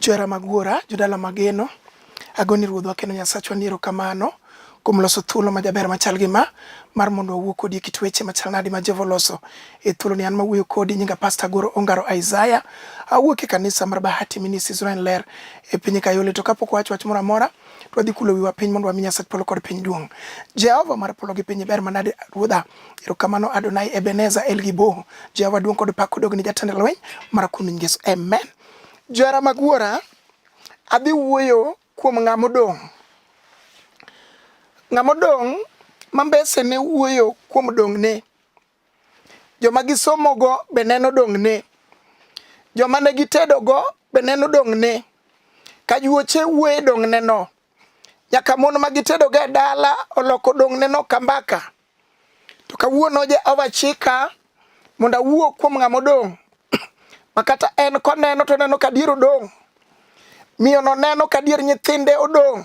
Johera mag Wuora, jodala mageno, agoni Ruodhwa kendo Nyasachwa ni erokamano kuom loso thuolo ma jaber machal gi ma mar mondo wawuo kodi e kit weche machal nadi ma Jehova oloso e thuolo ni an ma wuoyo kodi nyinga Pasta Goro Ongaro Isaiah awuok e kanisa mar Bahati Ministries Ryan Ler e piny Kayole to kapok wawacho wach moro amora to wadhi kulo wiwa piny mondo wami Nyasach polo kod piny duong' Jehova mar polo gi piny ber manade Ruodha Erokamano Adonai Ebenezer El Gibo. Jehova duong' kod pak odog ne jatend lweny mar kuom Yesu. Amen. Johera mag wuora, adhi wuoyo kuom ng'ama odong'. Ng'ama odong' ma mbese ne wuoyo kuom dong'ne. Joma gisomogo be neno dong'ne. Joma ne gitedogo be neno dong'ne. Kajuoche wuoye dong'ne no. nyaka mon ma gitedoga e dala oloko dong'ne no kambaka to kawuono jehova chika mondo awuo kuom ng'ama odong' ma kata en koneno to neno ka dier odong' miyono neno ka dier nyithinde odong'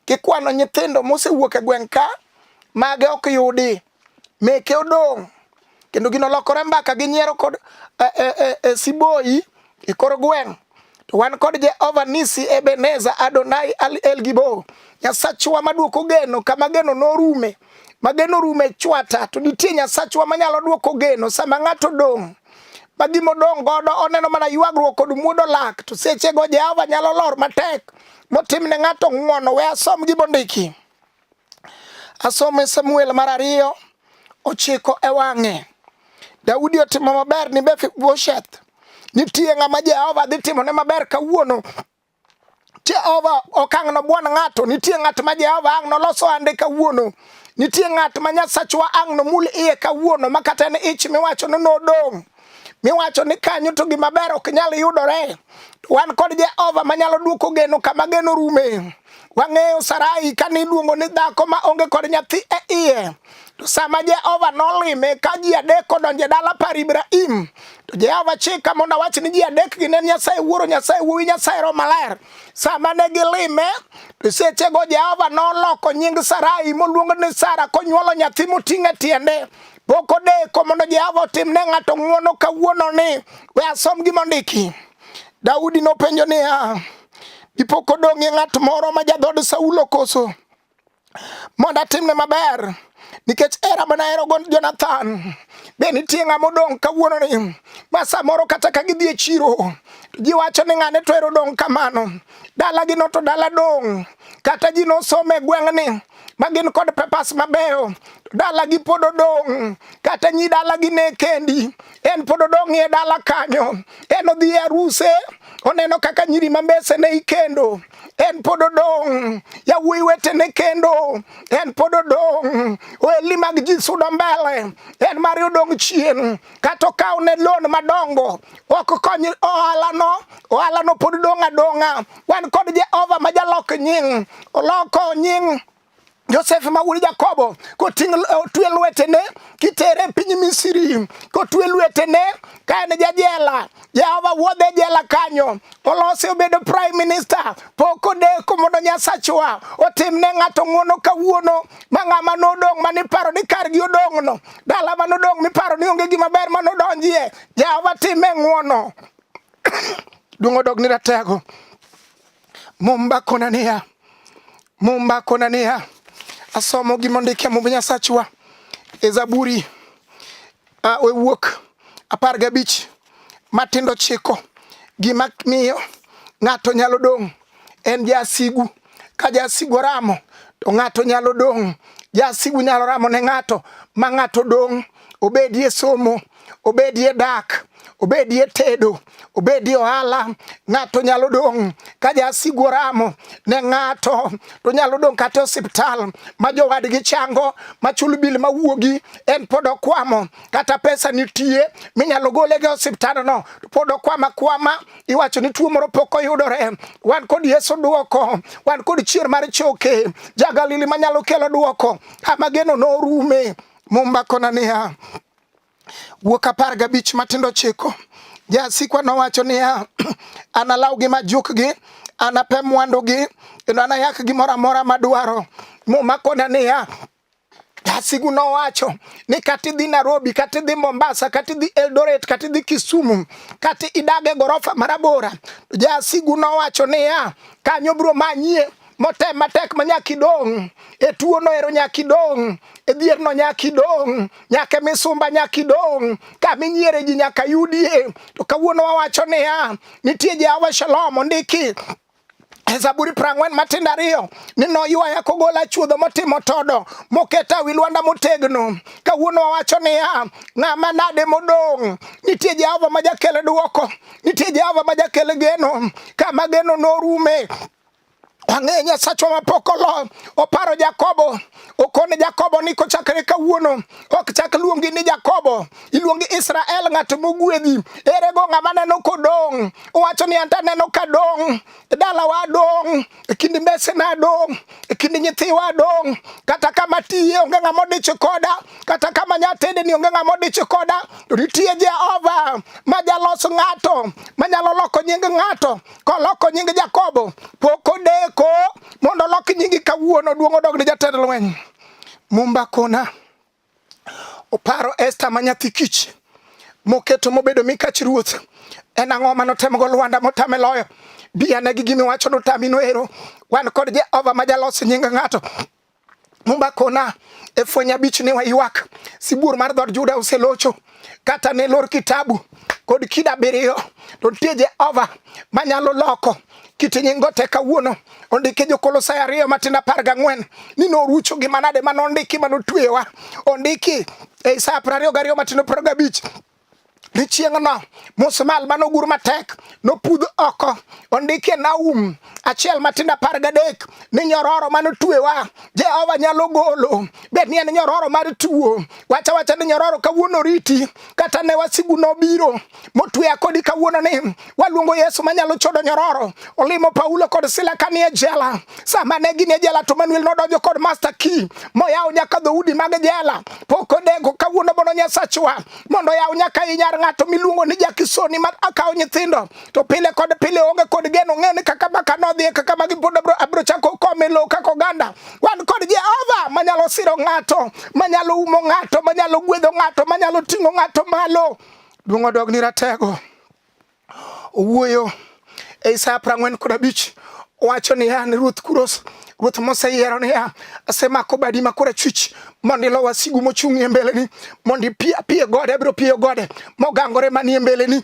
kikwano nyithindo mosewuok e gweng' ka mage ok yudi meke odong' kendo gino lokore mbaka gi nyiero kod e, e, e, e siboyi e kor gweng' to wan kod jehova nisi ebeneza adonai al el gibo nyasachwa maduoko geno kama geno norume ma geno rume chwata to nitie nyasachwa manyalo duoko geno sama ng'ato dong' ma gima odong' godo oneno mana ywagruok kod muodo lak to sechego jehova nyalo lor matek motimne ng'ato ng'wono we asom gimondiki Asome Samuel mar ariyo ochiko e wang'e. Daudi otimo maber ni Mefibosheth. Nitie ng'ama Jehova dhi timo ne maber kawuono. Jehova ok ang' nobwon ng'ato. Nitie ng'at ma Jehova ang' noloso ande kawuono. Nitie ng'at ma Nyasachwa ang' nomul iye kawuono ma kata en ich miwacho ni nodong'. miwacho ni kanyo to gima ber ok nyal yudore. Wan kod Jehova manyalo duoko geno kama geno rume. Wang'eyo Sarai kane iluongo ni dhako ma onge kod nyathi e iye. To sama Jehova nolime ka ji adek odonje dala par Ibrahim, to Jehova chika mondo awach ni ji adek gi ne Nyasaye Wuoro, Nyasaye Wuowi, Nyasaye Roho Maler. Sama ne gilime, to sechego Jehova noloko nying Sarai moluongo ni Sara konyuolo nyathi moting'e tiende. Pok odeko mondo Jehova otim ne ng'ato ng'wono kawuono ni we asom gima ondiki. Daudi nopenjo niya, dipo kodong'ie ng'at moro ma jadhood Saulo koso mondo atimne maber nikech era mana hero go Jonathan be nitie ng'ama odong' kawuono ni ma samoro kata ka gidhi e chiro ji wacho ni ng'ane to ero dong' kamano dalagi no to dala dong' kata ji nosome gweng'ni ma gin kod pepas mabeyo dalagi pod odong' kata nyi dalagi ne kendi en pod odong' e dala kanyo en odhi e aruse oneno kaka nyiri ma mbese ne ikendo en pod odong' yawuoyi wetene kendo en pod odong' ohelni mag ji sudo mbele en mare odong' chien kata okaw ne loan madongo ok kony ohalano ohalano pod dong' adong'a wan kod jehova ma jalok nying oloko nying Joseph ma wuod Jakobo koting' otwe lwetene kitere piny Misri kotwe lwetene ka en jajela Jehova wuodhe jela kanyo, olose obedo prime minister. Pok odeko mondo Nyasachwa otim ne ng'ato ng'uono kawuono, ma ng'ama nodong' ma niparo ni kargi odong'no, dala ma nodong' miparo ni onge gima ber ma nodonjie, Jehova time ng'uono. Duong' odog ni ratego. Mumba kona niya, Mumba kona niya, asomo gima ondike Mumb Nyasachwa e Zaburi Uh, we wuok apar gabich matindo chiko gima miyo ng'ato nyalo dong' en jasigu ka jasigu oramo to ng'ato nyalo dong' jasigu nyalo ramo ne ng'ato ma ng'ato dong' obedie somo obedie dak obedie tedo obedi ohala, ng'ato nyalo dong' ka jasigu oramo ne ng'ato, to nyalo dong' kata osiptal ma jowadgi chango machul bil mawuogi, en pod okwamo, kata pesa nitie minyalo gole gi osiptandno, to pod okwama kwama, iwacho ni tuo moro pok oyudore. Wan kod Yesu dwoko, wan kod chier mar choke, ja Galili manyalo kelo dwoko, ama geno norume. Mumba kona niya Wuok apar gabich matindo chiko. Jasikwa nowacho niya, analawgi majukgi, anape mwandugi, kendo anayak gimoro amora madwaro. Muma kona niya, Asigu nowacho ni kata idhi Nairobi, kata idhi Mombasa, kata idhi Eldoret, kata idhi Kisumu, kata idag e gorofa marabora. Jasigu nowacho niya, kanyo biro manyie motem matek ma nyaka idong' e tuono ero nyaka idong' e dhierno nyaka idong' nyaka e misumba nyaka idong' kama inyiere ji nyaka yudie to kawuono wawacho niya nitie Jehova Shalom ondiki e zaburi prang'wen matindo ariyo ni noywaya kogola chuodho motimo todo moketa wi lwanda motegno kawuono wawacho niya ng'ama nade modong' nitie jehova ma jakele dwoko nitie jehova ma jakele geno kama geno norume Ang'e Nyasachwa mapokolo oparo Jakobo okone Jakobo ni kochakre kawuono ok chak luongi ni Jakobo iluongi Israel ng'at mogwedhi ere go ng'ama neno kodong' owacho ni anta neno ka dong' e dalawa dong' e kind mbesena dong' e kind nyithiwa dong' kata kama tiye onge ng'ama odich koda kata kama nyatede ni onge ng'ama odich koda to nitie Jehova ma jalos ng'ato manyalo loko nying ng'ato koloko nying Jakobo pok odeko mondo olok nyingi kawuono duong' odog ne jatend lweny. Mumba kona oparo Esta ma nyathi kich moketo mobedo mikach ruoth en ang'o ma notemgo Lwanda motame loyo biyanegi gimiwacho notami noero wan kod Jehova ma jalos nying ng'ato Mumba kona e fweny abich ne waywak, sibuor mar dhood Juda oselocho, kata ne lor kitabu kod kida abiriyo, to nitie Jehova manyalo loko kit nyingo te kawuono ondike jokolosai ariyo matindo apar gang'wen ni norucho gi manade ma nondiki ma notweyowa ondiki e Isaya piero ariyo gariyo matindo piero gabich ni chieng'no musmal mane ogur matek nopudh oko ondikie Naum achiel matindo apar gadek ni nyororo mane otuewa Jehova nyalo golo bed ni en nyororo mar tuo wacha wacha ni nyororo kawuono riti kata ne wasigu nobiro motueya kodi kawuono ni Waluongo Yesu manyalo chodo nyororo. Olimo Paulo kod Sila kanie jela. Sama ne ginie jela to Manuel nodonjo kod master key moyawo nyaka dhoudi mag jela. Pok odeko kawuono bono Nyasachwa mondo yaw nyaka i nyar ng'ato miluongo ni Jakisoni ma akawo nyithindo to pile kod pile onge kod geno ng'e ni kaka baka nodhi kaka magi pod abro chako kome lo kaka oganda. Wan kod Jehova manyalo siro ng'ato, manyalo umo ng'ato, manyalo gwedho ng'ato, manyalo ting'o ng'ato malo. Duong' odog ni ratego. owuoyo e Isaya prang'wen kod abich wacho niya ni Ruoth Kuros Ruoth moseyiero niya, asemako badi ma korachwich mondo ilo wasigu mochung' e mbeleni, mondo ipi apiye gode, abiro piyo gode mogangore manie mbeleni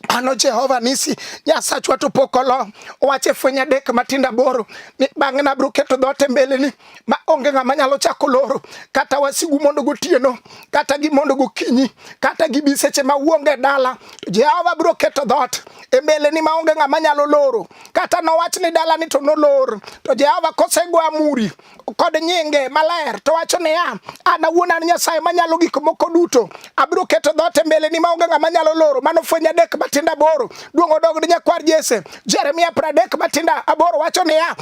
ano Jehova nisi Nyasachwa to pok olo wache fweny adek matindo aboro ni bang'e nabiro keto dhoot e mbeleni ma onge ng'ama nyalo chako loro kata wasigu mondo gotieno kata gi mondo gokinyi kata gi bi seche ma uonge dala to Jehova biro keto dhoot e mbeleni ma onge ng'ama nyalo loro kata nowach ni dala ni to nolor to Jehova kosego amuri kod nyinge maler to wacho niya an awuon an Nyasaye manyalo gik moko duto abiro keto dhoot e mbeleni ma onge ng'ama nyalo loro mano fweny adek matinda aboro duong' odog ni nyakwar Jesse Jeremia pradek matinda aboro wacho niya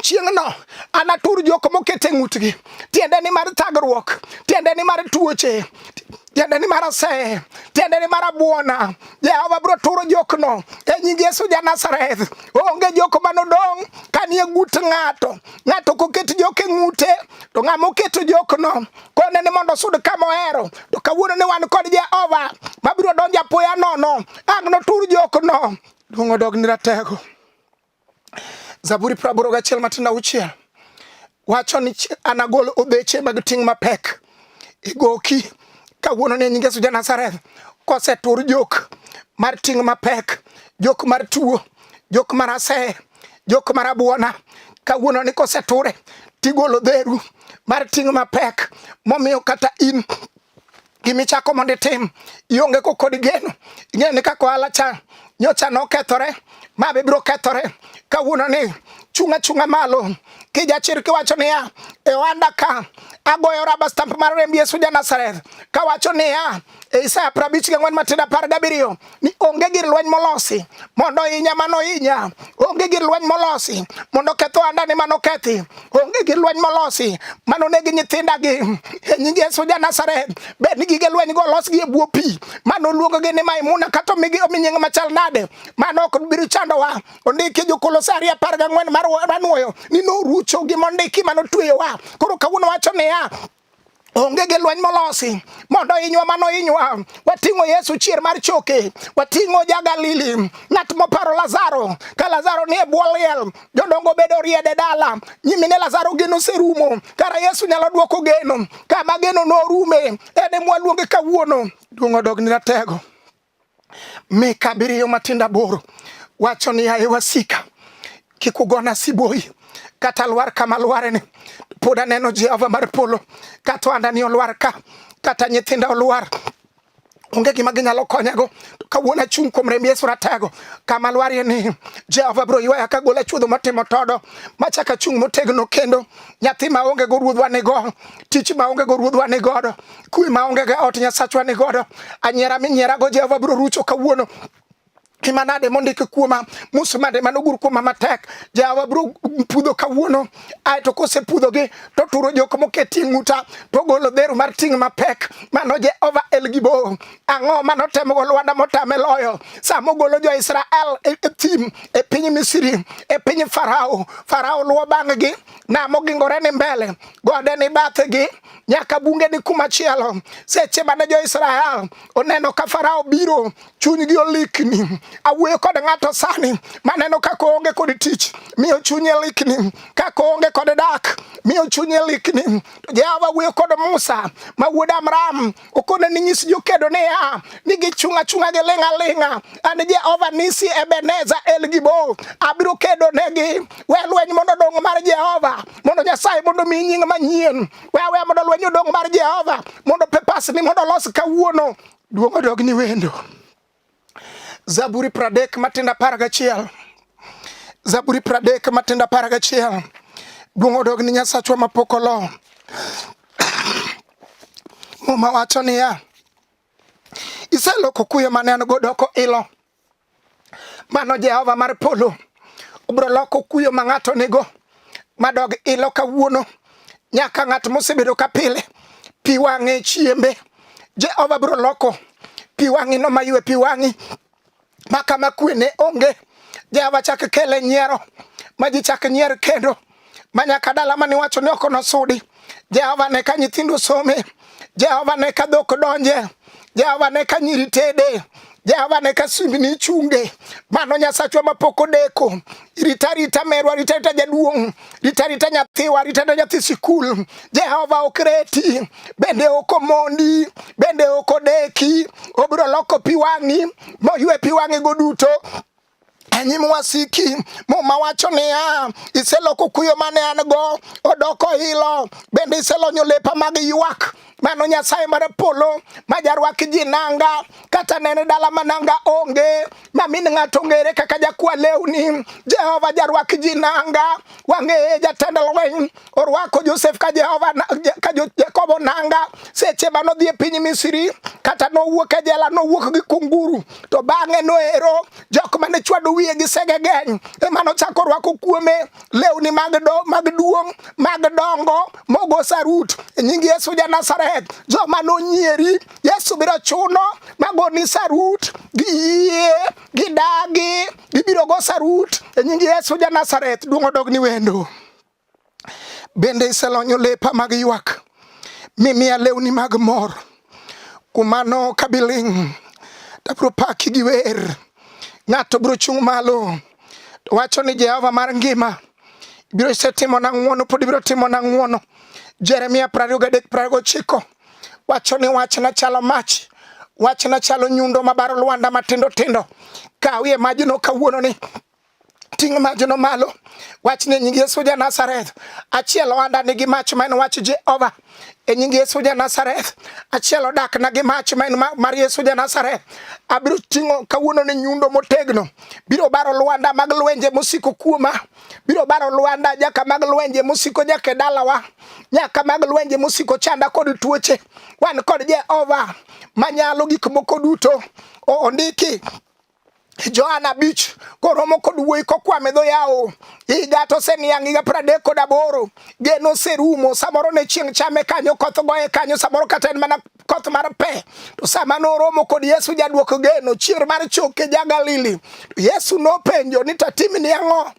chieng'no anatur jok moket e ng'utgi tiende ni mar thagruok tiende ni mar tuoche tiende ni mar aseye tiende ni mar abuona jehova biro turo jokno e nying yesu ja nazareth onge jok manodong' kanie gut ng'ato ng'ato koket jok e ng'ute to ng'ama oketo jokno kone ni mondo osud kama ohero to kawuono ni wan kod jehova mabiro donjo apoya nono ang' notur jokno duong' odog ni ratego Zaburi praboro gachiel matindo auchiel wacho ni anagol obeche mag ting' mapek igoki e kawuono ne nyinge suja Nazareth kosetur jok mar ting' mapek jok mar tuo jok mar aseye jok mar abuona kawuono ni koseture tigolo dheru mar ting' mapek momiyo kata in gimichako mondo itim ionge ko kod geno ing'eyo ni kaka ohala cha nyocha nokethore ma be biro kethore kawuono ni chung' achung'a malo kijachir kiwacho niya e ohanda ka agoyo raba stamp mar remb yesu ja nazareth kawacho niya e isaya prabich gi ang'wen matindo apar gabiriyo ni onge gir lweny molosi mondo inya mano inya onge gir lweny molosi mondo ketho andani mano kethi onge gir lweny molosi mano negi nyithinda gi e nying Yesu ja Nazareth bed ni gige lweny go los gi e bwo pi mano luongo gi ni Maimuna kato migi omi nying machal nade mano ok biro chandowa ondiki jokolosari apar gang'wen mar ranwoyo ni norucho gi mondiki mano tweyowa koro kawuono wacho niya onge gi lweny molosi mondo inywa mano inywa wating'o yesu chier mar choke wating'o ja galili ng'at moparo lazaro ka lazaro nie bwo liel jodongo bedo riede dala nyimine lazaro geno serumo kara yesu nyalo dwoko geno kama geno norume ene mwaluonge kawuono duong' odog ni ratego Mika abiriyo matinda boro wacho ni aye wasika kik ugona sibuoyi kata lwar kama lwareni pod aneno Jehova mar polo kata andani olwar ka kata nyithinda olwar onge gima ginyalo konyago kawuono achung' kuom remb Yesu ratego kama lwarie ni Jehova bro ywaya ka gola chuodho motimo todo machaka chung' motegno kendo nyathi maonge go ruodhwa ni go tich maonge go ruodhwa ni godo kwe ma onge ga ot Nyasachwa ni godo anyiera minyiera go Jehova bro rucho kawuono imanade mondik kuoma musmade manogur kuoma matek jawa bro pudho kawuono ae to kosepudhogi to turo jok moketi e ng'uta to golo dhero mar ting' mapek mano jehova el gibo ang'o manotemogo lwanda motame loyo sama ogolo jo-israel e, e thim e piny misiri e piny farao farao luwo bang'gi nam ogingore ni mbele gode ni bathegi nyaka bunge ni kuma chielo. Seche mane jo Israel oneno ka Farao biro, chunygi olikni. Awuoyo kod ng'ato sani maneno kaka oonge kod tich, miyo chunye likni, kaka oonge kod dak, miyo chunye likni. Jehova wuoyo kod Musa ma wuod Amram okone ni nyis jokedo niya ni gichung' achung'a gi ling' aling'a an jehova nisi ebeneza el gibo abiro kedo negi we lweny mondo odong mar jehova mondo nyasaye mondo omi nying manyien we awe mondo lweny odong mar jehova mondo pepasni mondo olos kawuono duong' odog ni wendo Zaburi pradek matenda apar gachiel Zaburi pradek matenda apar gachiel Duong' odog ni Nyasachwa mapok olo. Muma wacho niya, iseloko kuyo mane an go doko ilo. Mano Jehova mar polo obro loko kuyo ma ng'ato nigo. madog ilo kawuono nyaka ng'at mosebedo ka pile pi wang'e chiembe Jehova biro loko pi wang'i no maywe pi wang'i ma kama kwe ne onge Jehova chak kele nyiero ma ji chak nyier kendo ma nyaka dala mane wacho ni ok nosudi Jehova ne ka nyithindo some, Jehova ne ka dhok donje, Jehova ne ka nyiri tede, Jehova ne ka simbni ichunge. Mano Nyasachwa mapok odeko. Rita rita merwa, rita rita jaduong', rita rita nyathiwa, rita rita nyathi sikul. Jehova ok reti, bende ok omondi, bende ok odeki. Obiro loko pi wang'i, moywe pi wang'igo duto. Enyi mwasiki muma wacho niya, iseloko kuyo mane an go odoko ilo, bende iselonyo lepa mag ywak mano nyasaye mar polo ma jarwak ji nanga kata nene dala ma nanga onge ma min ng'ato ong'ere kaka jakwa lewni jehova jarwak ji nanga wang'eye jatend lweny orwako Josef ka Jehova ka Jakobo nanga seche ma nodhi e piny Misri kata nowuok e jela nowuok gi kunguru to bang'e noero jok mane chwado wiye gi sege geny ema nochako orwako kuome lewni mag do mag duong' mag dongo mogo sarut e nying Yesu ja Nazareth joma nonyieri Yesu biro chuno magoni sarut gi yie gidagi gibiro go sarut e nying Yesu ja Nazareth duong' odog ni wendo bende iselonyo lepa mag ywak mimiya lewni mag mor kuom mano kabiling tabro paki gi wer ng'ato biro chung' malo to wacho ni Jehova mar ngima biro isetimo na ng'wono pod ibiro timo na ng'wono Jeremia 29:29 Wacho ni wachna chalo mach, wachna chalo nyundo mabaro lwanda matindo tindo. Kawie majno kawuono ni ting' majno malo wach ni e nying Yesu ja Nazareth achiel ohanda nigi mach ma en wach Jehova e nying Yesu ja Nazareth achiel odak na gi mach ma en mar Yesu ja Nazareth abiro ting'o kawuono ni nyundo motegno biro baro lwanda mag lwenje mosiko kuoma biro baro lwanda nyaka mag lwenje mosiko nyaka e dalawa nyaka mag lwenje mosiko chanda kod tuoche wan kod jehova manyalo gik moko duto ondiki Johana Beach koromo kod wuoyi kokwame dho yawo higa to oseniang' higa piero adek kod aboro geno oserumo samoro ne chieng' chame kanyo koth goye kanyo samoro kata en mana koth mar pe to sama noromo kod yesu jadwoko geno chier mar choke ja galili to yesu nopenjo ni tatimni ang'o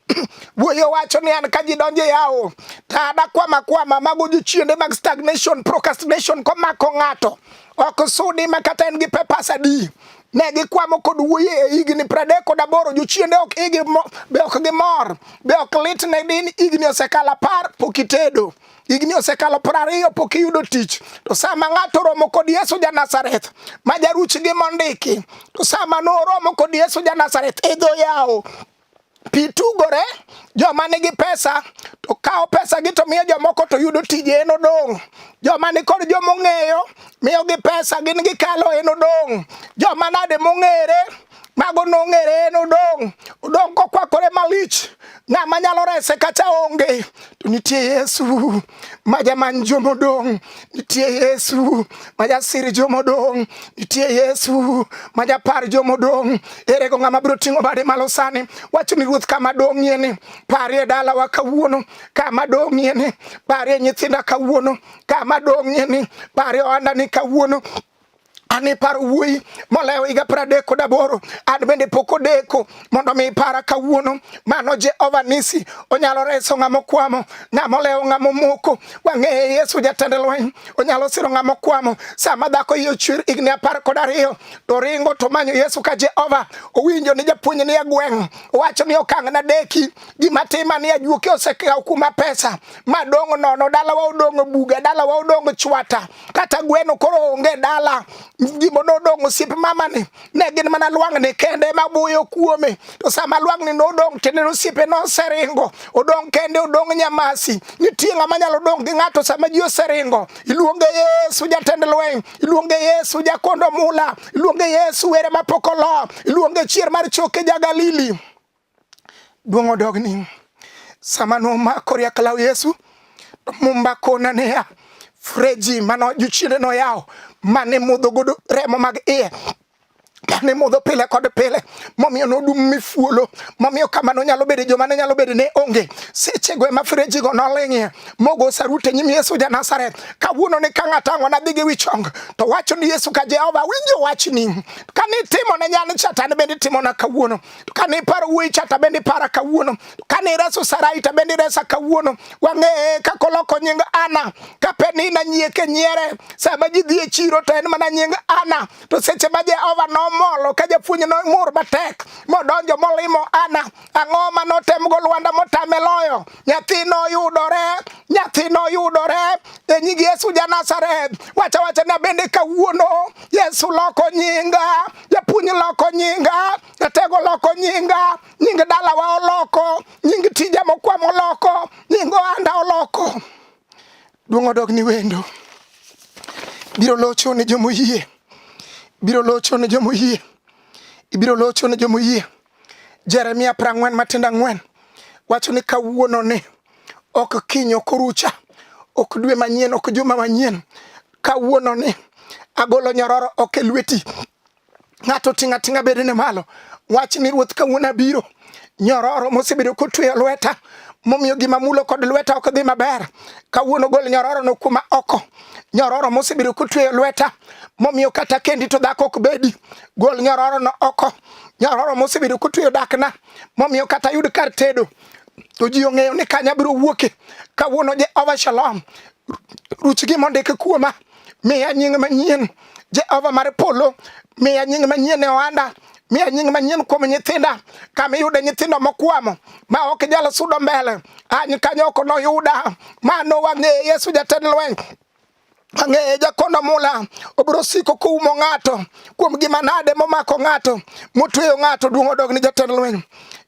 wuoyo wacho ni an ka ji donjo e awo to adakwama kwama mago jochiende mag stagnation procrastination komako ng'ato ok sudi ma kata en gi pepas adi ne gikwamo kod wuoye e higni pradek kod aboro jochiende ok igi be ok gimor be ok lit ne din higni osekalo apar pok itedo higni osekalo piero ariyo pok iyudo tich to sama ng'ato oromo kod yesu ja nazareth ma jaruch gi mondiki to sama noromo kod yesu ja nazareth idho e yawo pi tugore joma nigi pesa to kawo pesa gi to miyo jomoko to yudo tije en odong' joma ni kod joma ong'eyo miyogi pesa gin gikalo en odong' joma nade mong'ere mago nong'ere en odong' odong' kokwakore malich ng'ama nyalo rese kata onge to nitie yesu ma jamany jomodong' nitie yesu ma jasir jomodong' nitie yesu ma japar jomodong' erego ng'ama biro ting'o bade malo sani wacho ni ruoth kama dong'ie ni parie dalawa kawuono kama dong'ie ni parie nyithinda kawuono kama dong'ie ni parie ohandani kawuono an iparo wuoyi molewo higa pradek kod aboro an bende pok odeko mondo mi ipara kawuono mano jehova nisi onyalo reso ng'ama okwamo ng'ama olewo ng'ama omoko wang'eye yesu jatend lweny onyalo siro ng'ama okwamo sama dhako iye ochwer higni apar kod ariyo to ringo to manyo yesu ka jehova owinjo ni japuonj ni e gweng' owacho ni okang' na deki gima tima ni ajuoke osekawo kuma pesa madong' nono dalawa odong' buga dalawa odong' chwata kata gweno koro onge dala gima nodong' osiep mamani ne gin mana lwang'ni kende ma buyo kuome to sama lwang'ni nodong' tiende osiepe noseringo odong' kende odong' nyamasi nitie ng'ama nyalo dong' gi ng'ato sama ji oseringo iluonge yesu jatend lweny iluonge yesu jakondo mula iluonge yesu were mapok olo iluonge chier mar choke ja galili Duong' odogni sama nomako riak law Yesu to mumba kona niya freji mano jochiende noyawo mane modho godo remo mag iye ne modho pile kod pile momiyo nodum mifuolo momiyo kamano nyalo bedo joma ne nyalo bedo ne onge sechego ema frejigo noling'ie mogo sarute nyim yesu ja nazareth kawuono ni ka ng'ato ang'o nadhi gi wichong to wacho ni yesu ka jehova winjo wachni ka nitimo ne nyan chatan bende itimona kawuono to kane iparo wuoyi cha to bende ipara kawuono kane ireso sarai to bende iresa kawuono wang'eye kaka oloko nying ana kape ni nanyieke nyiere sama ji dhi e chiro to en mana nying ana to seche ma jehova nomolo ka japuonj nomur matek modonjo molimo ana ang'o ma notemgo lwanda motame loyo nyathi noyudore nyathi noyudore e nying yesu ja nazareth wacha wacha na bende kawuono yesu loko nyinga japuonj loko nyinga jatego loko nyinga nying dalawa oloko nying tija mokwamo oloko nying ohanda oloko duong' odog ni wendo biro locho ne jomoyie biro locho ne jomoyie ibiro locho ne jomoyie Jeremia prang'wen matindo ang'wen wacho ni kawuono ni ok kiny ok orucha ok dwe manyien ok juma manyien kawuono ni agolo nyororo ok e lweti ng'ato ting' ating'a bedene malo wach ni ruoth kawuono abiro nyororo mosebedo kotweyo lweta momiyo gima mulo kod lweta ok dhi maber kawuono gol nyororo no kuma oko nyororo mosebedo kotweyo lweta momiyo kata kendi to dhako ok bedi gol nyororo no oko nyaroro mosebedo kotweyo dakna momiyo kata yud kar tedo to ji ong'eyo ni kanya biro wuoke kawuono Jehova Shalom ruch gima ondik kuoma miya nying manyien Jehova mar polo miya nying manyien e ohanda miya nying manyien kuom nyithinda kama iyude nyithindo mokwamo ma ok jal sudo mbele any kanyo ok noyuda ma nowang'e Yesu jatend lweny Ang'eye jakono mula obiro siko koumo ng'ato kuom gima nade momako ng'ato motweyo ng'ato duong' odog ni jatend lweny.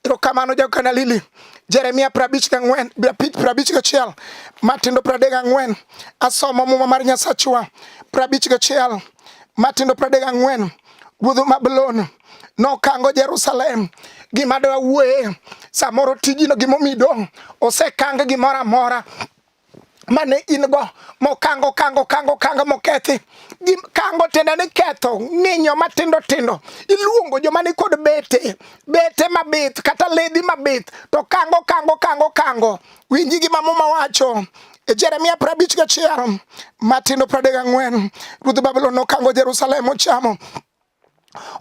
Erokamano jagokana Lili. Jeremia prabich gang'wen prabich gachiel matindo pradek gang'wen asomo muma mar Nyasachwa prabich gachiel matindo pradek gang'wen ruodh Babulon nokango Jerusalem gima dawuoye samoro tijino gimomido osekang gimoro amora mane in go mokango kango kango kango mokethi gi kango tiende ni ketho ng'inyo matindo tindo iluongo joma ni kod bete bete mabith kata ledhi mabith to kango kango kango kango winji gi ma muma wacho e Jeremia prabich gachiel matindo pradek ang'wen ruodh Babulon nokango Jerusalem ochamo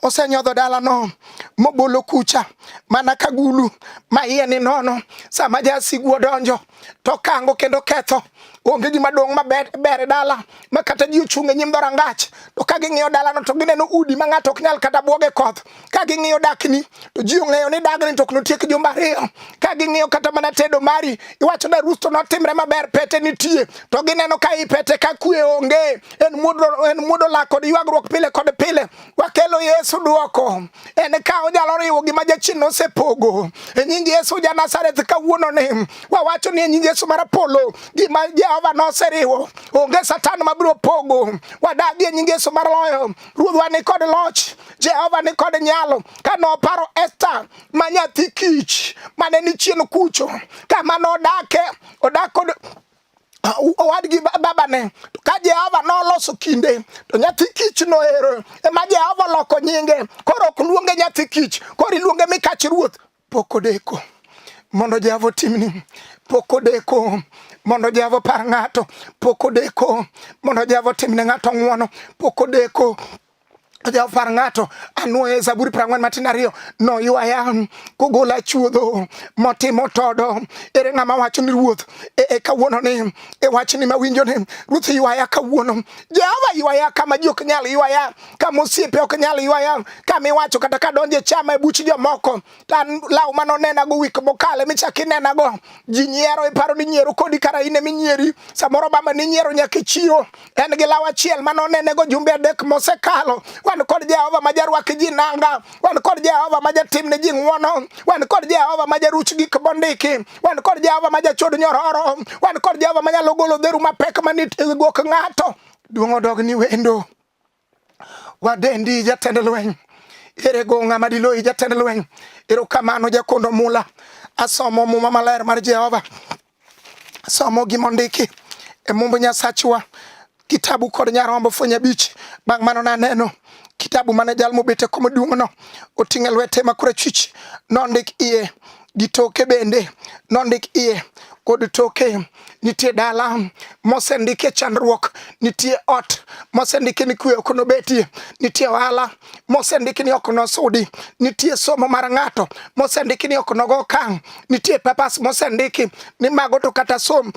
osenyodho dalano mobolo kucha mana ka gulu ma iye ni nono. Sama jasigu odonjo to kango kendo ketho. Onge gima dong' maber e dala ma kata ji ochung' e nyim dhorangach to ka ging'iyo dalano to gineno udi ma ng'ato ok nyal kata bwoge koth. Ka ging'iyo dakni to ji ong'eyo ni dagni to ok notiek jumbe ariyo. Ka ging'iyo kata mana tedo mari iwacho ni arus to notimre maber pete nitie to gineno ka i pete ka kwe onge. en mudo, en mudo lak kod ywagruok pile kod pile. Wakelo Yesu dwoko. En ka onyalo riwo gima jachien nosepogo. E nying Yesu ja Nazareth kawuono ni wawacho ni e nying Yesu mar polo gima Jehova noseriwo. Onge satan mabiro pogo. Wadagi e nying Yesu mar loyo. Ruodhwa ni kod loch. Jehova ni kod nyalo. Ka noparo Esther ma nyathi kich mane ni chien kucho. Kama nodake odak kod owadgi babane to ka Jehova noloso kinde to nyathi kich noero ema Jehova oloko nyinge koro ok luonge nyathi kich koro iluonge mikach ruoth pok odeko mondo Jehova otimni pok odeko mondo Jehova par ng'ato pok odeko mondo Jehova otimne ng'ato ng'wono pok odeko Jawfar ng'ato anwoye Zaburi prang'wen matin ariyo noywaya um, kogola chuodho motimo todo. Ere ng'ama wacho ni ruoth e, e kawuono ni e wachni mawinjo ni ruoth ywaya kawuono. Jehova ywaya kama ji ok nyal ywaya, kama osiepe ok nyal ywaya, kama iwacho kata kadonje chama e buch jomoko tan law mano nena go wik mokale michaki nena go ji nyiero iparo ni nyiero kodi kara ine minyieri samoro baba ni nyiero nyaki chiro en gi law achiel mano nene go jumbe adek mosekalo wan kod Jehova ma jarwaki ji nanga wan kod Jehova ma jatim ne ji ng'wono wan kod Jehova ma jaruch gik bondiki wan kod Jehova ma jachod nyororo wan kod Jehova ma nyalo golo dheru mapek manit e gwok ng'ato duong' odog ni wendo Wadendi jatend lweny. Ere go ng'ama diloyi jatend lweny. Erokamano jakondo mula. Asomo muma maler mar Jehova. Asomo gima ondiki e mumb Nyasachwa. Kitabu kod nyarombo fwenye bich. Bang' mano naneno kitabu mane jal mobete komo duong'no oting'e lwete makorachwich nondik iye gi toke bende nondik iye kod toke nitie dala mosendikie chandruok nitie ot mosendiki ni kwe ok nobetie nitie ohala mosendiki ni ok nosudi nitie somo mar ng'ato mosendiki ni ok nogo kang nitie papas mosendiki ni mago to kata som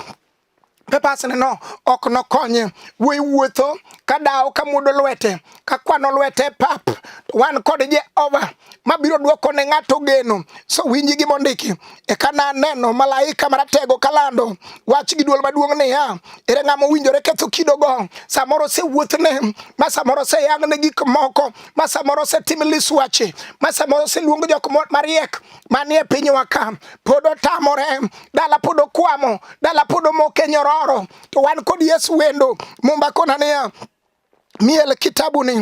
pepasneno ok nokonye wuoyi wuotho ka dawo ka mudo lwete ka kwano lwete pap wan kod jehova mabiro dwoko ne ng'ato geno so winji gi mondiki eka na neno malaika maratego kalando wach gi duol maduong' niya ere ng'ama owinjore ketho kidogo samoro osewuothne ma samoro oseyang ne gik moko ma samoro osetim liswache ma samoro oseluong jok mariek manie pinywa ka pod otamore, dala pod okwamo, dala pod omoke nyororo, to wan kod Yesu wendo. Mumba kona niya miel kitabu ni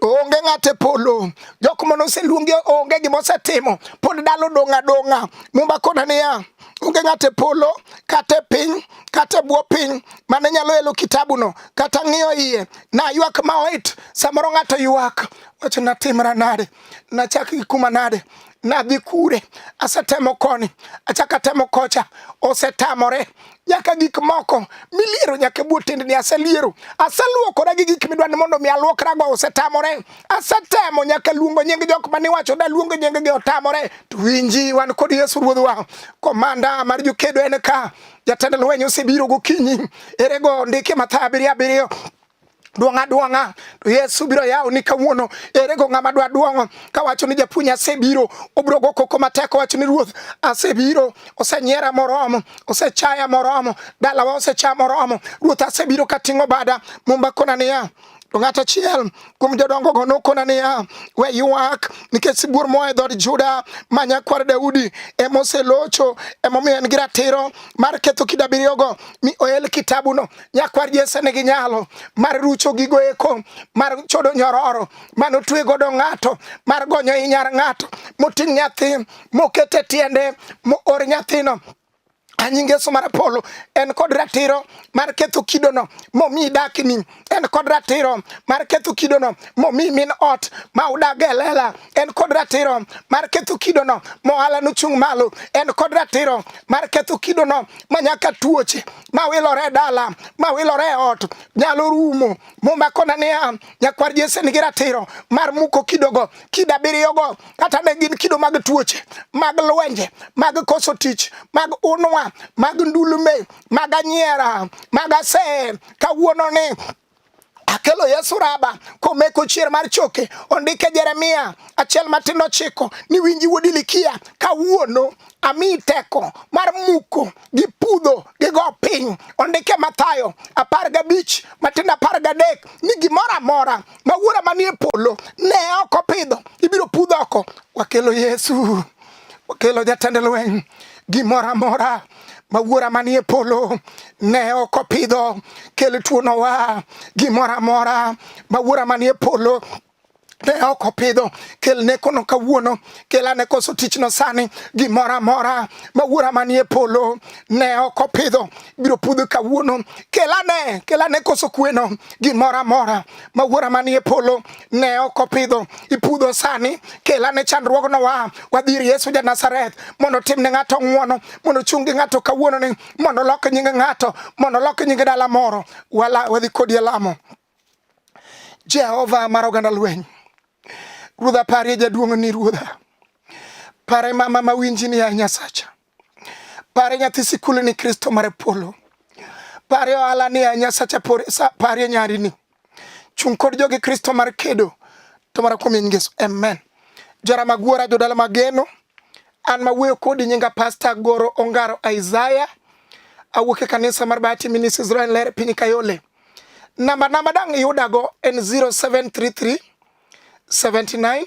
onge ng'ate polo jok mane oseluongi onge gima osetimo pod dalo dong' adong'a mumba kona niya onge ng'ate polo kata e piny kata e bwo piny mane nyalo elo kitabu no kata ng'iyo iye na ywak ma oit samoro ng'ato ywak wacho natimra nade nachak gi kuma nade nadhi kure, asetemo koni, achaka temo kocha, osetamore nyaka gik moko miliero nyaka e bwo tendni aseliero aseluokora gi gik midwa ni mondo mi aluokrago osetamore asetemo nyaka luongo nying jok mane wacho da luongo nying gi otamore to winji wan kod yesu ruodhwa komanda mar jokedo en ka jatend lweny osebiro gokinyi erego ndike matha abiriyo abiriyo duong' aduong'a to Yesu biro yawo ni kawuono ere go ng'ama dwa duong'o kawacho ni japuonj asebiro obiro go koko matek owacho ni ruoth asebiro osenyiera moromo osechaya moromo dalawa osecha moromo ruoth asebiro kating'o bada mumba kona niya to ng'at achiel kuom jodongogo nokona niya we ywak nikech sibuor moa e dhood juda ma nyakwar daudi ema oselocho emomiyo en gi ratiro mar ketho kida abiriyogo mi oel kitabuno nyakwar Jesse nigi nyalo mar rucho gigo eko mar chodo nyororo mano twe godo ng'ato mar gonyo i nyar ng'ato moting' nyathi mokete tiende moor nyathino anying yesu mar apolo en kod ratiro mar ketho kidono momi dakni en kod ratiro mar ketho kidono momi min ot ma udag e lela en kod ratiro mar ketho kidono mohala nochung' malo en kod ratiro mar ketho kidono ma nyaka tuoche ma wilore e dala ma wilore e ot nyalo rumo momakona niya nyakwar jese nigi ratiro mar muko kidogo kido abiriyogo kata ne gin kido mag tuoche mag lwenje mag koso tich mag unwa mag ndulume mag anyiera mag asee kawuononi Akelo Yesu raba komeko chier mar choke ondike Jeremia achiel matindo chiko ni winji wuod Ilikia kawuono ami teko mar muko gi pudho gi go piny ondike Mathayo apar gabich matindo apar gadek ni gimoro amora ma wuora manie polo ne ok opidho ibiro pudh oko wakelo Yesu okelo jatend lweny gimoro amora ma wuora manie polo ne ok opidho kel tuono wa gimoro amora ma wuora manie polo ne ok opidho kel ne kono kawuono kel ane koso tichno sani gimoro amora ma wuora manie polo ne ok opidho biro pudho kawuono kel ane kel ane koso kweno gimoro amora ma wuora manie polo ne ok opidho ipudho sani kela ne chandruogno wa wadhi ir yesu ja nazareth mondo tim ne ng'ato ng'uono mondo chung' gi ng'ato kawuono ni mondo lok nying ng'ato mondo lok nying dala moro wala wadhi kodi e lamo jehova mar oganda lweny ruodha parie jaduong' ni ruodha pare mama mawinji ni ya nyasacha Pare nyathi sikul ni Kristo mar polo. Pare ohala ni a Nyasacha pore sa pare nyari ni. Chung kod jogi Kristo mar kedo to mara kuom Yesu. Amen. Jara magwara jodala mageno. An ma wuoyo kodi nyinga Pastor Goro Ongaro Isaiah. Awuok e kanisa mar Bahati Ministries Israel Ler piny Kayole. Namba namba dang' iyudago en 0733 79